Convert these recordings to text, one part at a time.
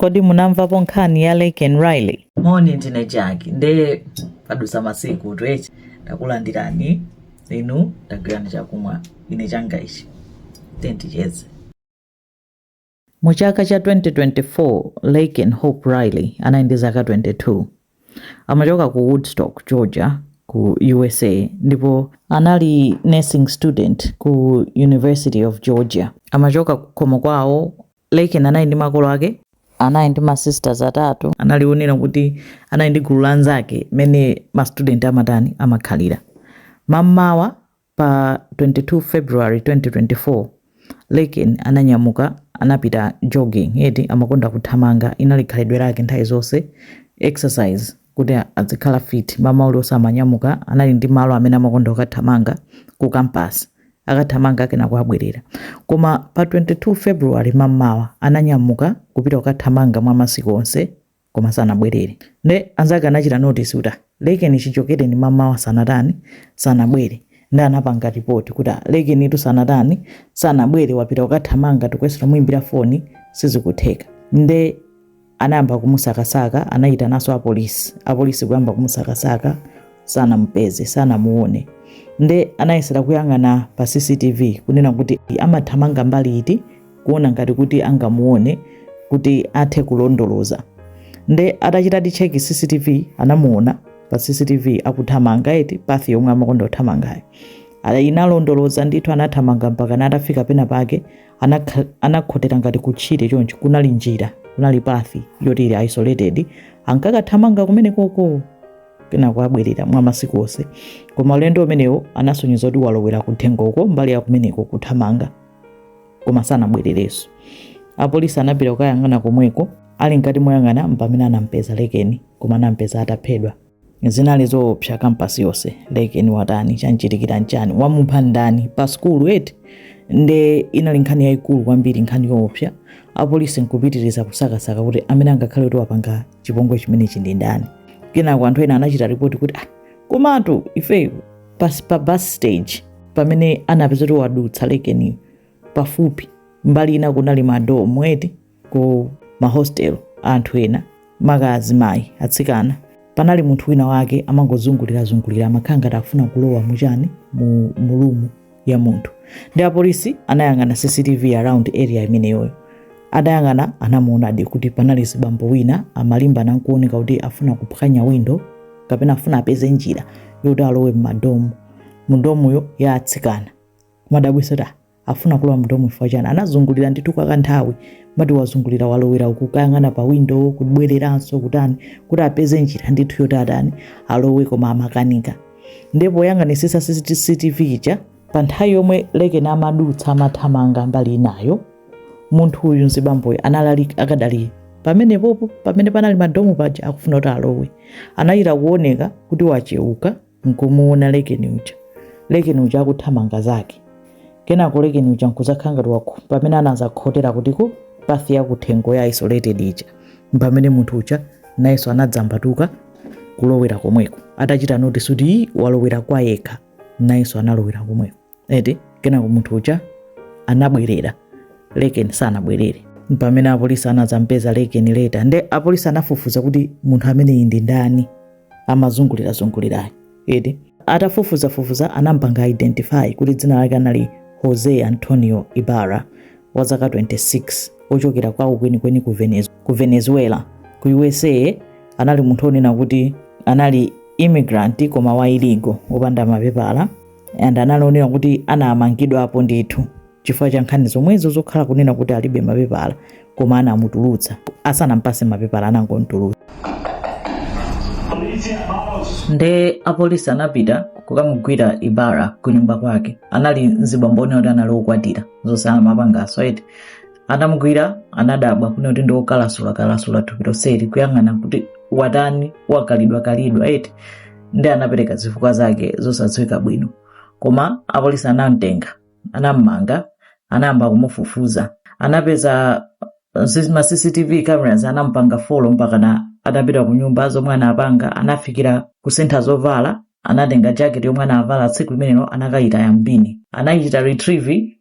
Kodi munamvapo nkhani ya Laken Riley? moni ndine Jackie nde padusa masiku twechi takulandirani inu tagwirani chakumwa ine changa ichi tenticheze Mu chaka cha 2024, Laken Hope Riley anali ndi zaka 22. Amachoka ku Woodstock, Georgia, ku USA ndipo anali nursing student ku University of Georgia. Amachoka kukhomo kwawo Laken anali ndi makolo ake. anali ndi ma sisters atatu. analinso onena kuti anali ndi gulu la anzake mmene ma student amatani, amakhalira. Mammawa pa 22 February 2024, Laken ananyamuka anapita jogging eti, amakonda kuthamanga, inali khalidwe lake nthawi zonse, exercise kuti azikhala fit, mamawa uliwonse amanyamuka, anali ndi malo amene amakonda kukathamanga ku campus. akathamanga kenako nkubwerera. Koma pa 22 February mammawa ananyamuka kupita kukathamanga mwa masiku onse koma sanabwerere. Nde anzake anachita notice kuti ah, Laken chichokereni mammawa sanatani, sanabwere. Nde anapanga report kuti ah, Lakenitu sanatani, sanabwere wapita kukathamanga tikuyesera kumuimbira foni sizikutheka. Nde anayamba kumusakasaka anayitananso apolisi apolisi kuyamba kumusakasaka sanamupeze sanamuone nde anayesera kuyang'ana pa cctv kunena kuti amathamanga mbali iti kuona ngati kuti angamuone kuti athe kulondoloza nde atachitadi check cctv anamuona pa cctv akuthamanga eti path yomwe amakonda kuthamangayo Ala- inalondoloza ndithu anathamanga mpaka atafika pena pake anakha- anakhotera ngati kutchire chonchi kunali njira kunali path yoti ili isolated ankakathamanga kumenekoko kenako nkubwerera mwa masiku onse koma ulendo umenewo anasonyeza kuti walowera kuthengoko mbali ya kumeneko kuthamanga koma sanabwererenso apolisi anapita kukayang'ana komweko ali mkati moyang'ana mpamene anampeza Laken koma anampeza ataphedwa zinali zoopsa campus yonse Laken watani chamchitikira nchani wamupha ndani pa skulu eti nde inali nkhani yayikulu kwambiri nkhani yoopsa apolisi nkupitiriza kusakasaka kuti amene angakhale kuti wapanga chipongwe chimenechi ndi ndani kenako anthu ena anachita ripoti kuti ah, komatu ife pas, pa bus stage pamene anapeza kuti wadutsa Laken pafupi mbali ina kunali madomu eti ku mahostel a anthu ena maka azimayi atsikana panali munthu wina wake amangozungulirazungulira amakhala ngati afuna kulowa muchani mu room ya munthu nde apolisi anayang'ana cctv around area imeneyoyo atayang'ana anamuonadi kuti panali zibambo wina amalimbana nkuoneka kuti afuna kuphwanya window kapena afuna apeze njira yoti alowe mmadomu mudomuyo ya atsikana madabwisa ta afuna kulowa mudomu chifukwa chani anazungulira ndithu kwa kanthawi mati wazungulira walowera uku kayang'ana pa windo kubwereranso kutani kuti apeze njira ndithu yoti atani alowe koma amakanika ndipo poyang'anisisa cctv ija pa nthawi yomwe lekeni amadutsa amathamanga mbali inayo munthu uyu mzibamboyo analali akadali pamenepopo pamene panali madomu paja akufuna kuti alowe anachita kuoneka kuti wacheuka nkumuona lekeni uja lekeni uja akuthamanga zake kenako lekeni uja nkuzakhala ngati wakhota pamene anazakhotera kuti ku path ya kuthengo ya isolated ija mpamene munthu uja nayenso anadzambatuka kulowera komweko atachita notice kuti "Ii, walowera kwa yekha nayenso analowera komweko eti kenako munthu uja anabwerera leken sanabwerere pamene apolisi anadzampeza leken later nde apolisi anafufuza kuti munthu ameneyi ndi ndani amazungulirazungulirayo eti atafufuzafufuza anampanga identify kuti dzina lake anali jose antonio ibarra wa zaka 26 ochokera kwawo kwenikweni ku Venez- ku venezuela ku usa anali munthu onena kuti anali immigrant koma wa illegal opanda mapepala and anali onena kuti anamangidwapo ndithu chifukwa cha nkhani zomwezo zokhala kunena kuti alibe mapepala koma anamutulutsa asanampase mapepala anangomtulutsa nde apolisi anapita kukamugwira ibarra kunyumba kwake anali mzibambo onena kuti anali okwatira zosena mapangaso eti anamugwira anadabwa kuona kuti ndiokalasula kalasula thupi lonseli kuyang'ana kuti watani wakalidwa kalidwa eti nde anapereka zifukwa zake zosadziwika bwino koma apolisi anamtenga anammanga anayamba kumufufuza anapeza sis- ma cctv cameras anampanga follow mpakana atapita ku nyumba zomwe anapanga anafikira kusintha zovala anatenga jacket yomwe anavala tsiku limenelo anakayitaya mbini anayichita retrieve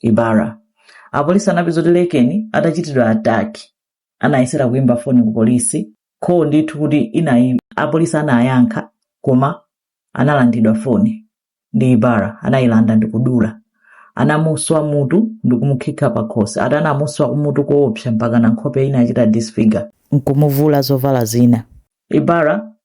Ibarra. Apolisi anapeza kuti Lekeni atachitidwa attack anayesera kuimba foni ku polisi call ndithu kuti ina apolisi anayankha koma analandidwa foni ndi Ibarra anayilanda ndikudula anamuswa mutu ndikumukhikha pakhosi ati anamuswa kumutu koopsa mpaka na nkhope inachita disfigure nkumuvula zovala zina. Ibarra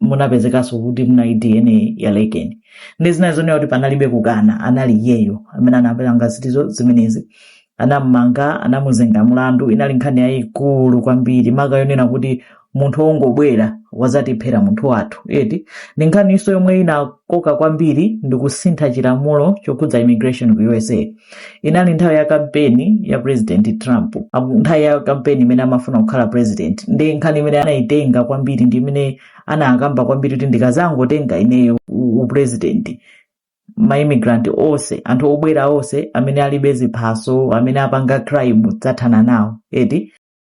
munapezekanso kuti munali dna ya lekeni nde zinali zonena kuti panalibe kukana anali iyeyo amene anapelanga zitizo zimenezi anamumanga anamuzenga mlandu inali nkhani yayikulu kwambiri maka yonena kuti munthu wongobwera wazatiphera munthu wathu eti ndi nkhaninso yomwe inakoka kwambiri ndikusintha chilamulo chokhudza immigration ku usa inali nthawi ya kampeni ya president trump nthawi ya kampeni imene amafuna kukhala president ndi nkhani imene anayitenga kwambiri ndi imene anakamba kwambiri kuti ndikazangotenga ineyo u- upresident maimmigrant onse anthu obwera onse amene alibe ziphaso amene apanga crime ndidzathana nawo eti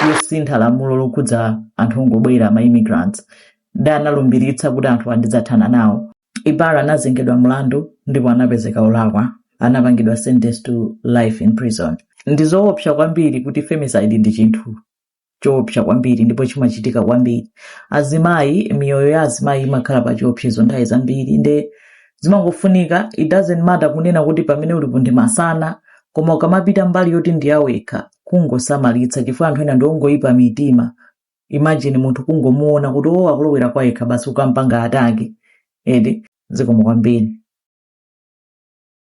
kusintha lamulo lokhudza anthu ongobwera ma immigrants ndi analumbiritsa kuti anthu awa ndidzathana nawo ibarra anazengedwa mlandu ndipo anapezeka olakwa anapangidwa sentence to life in prison ndi zoopsa kwambiri kuti femicide ndi chinthu choopsa kwambiri ndipo chimachitika kwambiri azimayi miyoyo ya azimayi imakhala pa chiopsezo nthawi zambiri nde zimangofunika it doesn't matter kunena kuti pamene ulipo ndi masana koma ukamapita mbali yoti ndi yawekha kungosamalitsa chifukwa anthu ena ndiongoyipa mitima imagine munthu kungomuona kuti o akulowera kwa yekha basi kukampanga attack eti zikomo kwambiri